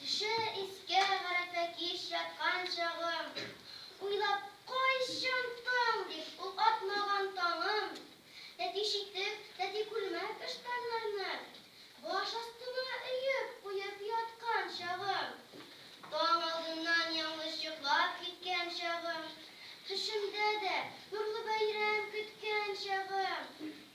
Төшә искә гарәпә кич яткан чагым, Уйлап кайчан таң дип ул атмаган таңым. Тәти читек, тәти күлмәк ыштаннарны Баш астыма өеп куеп яткан чагым, Таң алдыннан яңлыш йоклап киткән чагым, Төшемдә дә нурлы бәйрәм көткән чагым.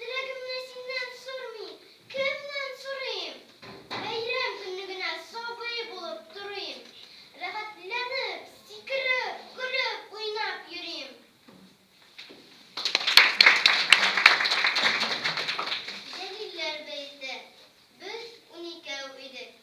Теләгемне синнән сормыйм, кемнән сорыйм? Бәйрәм көнне генә сабый булып торыйм. Рәхәтләнеп, сикереп, көлеп, уйнап йөрим. Җәлилләр бәете. Без уникәү идек.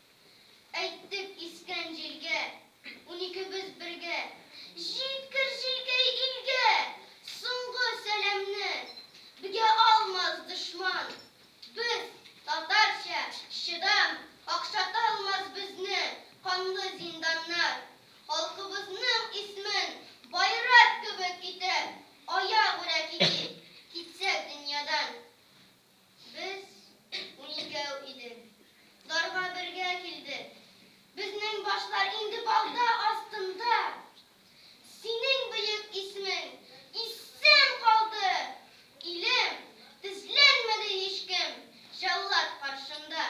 Әйттек искән җилгә, Уникебез бергә, Җиткер, җилкәй, илгә Соңгы сәламне! Бгә алмас дошман Без, татарча, чыдам, Какшаталмас безне Канлы зинданнар. Халкыбызның исмен Байрак кебек итәп, Аягүрә китик, Китсәк дөньядан. Без уникәү идек. Дарга бергә килдек. Безнең башлар инде балта астында. Синең бөек исемең исән калды, илем! Тезләнмәде һичкем җәллад каршында.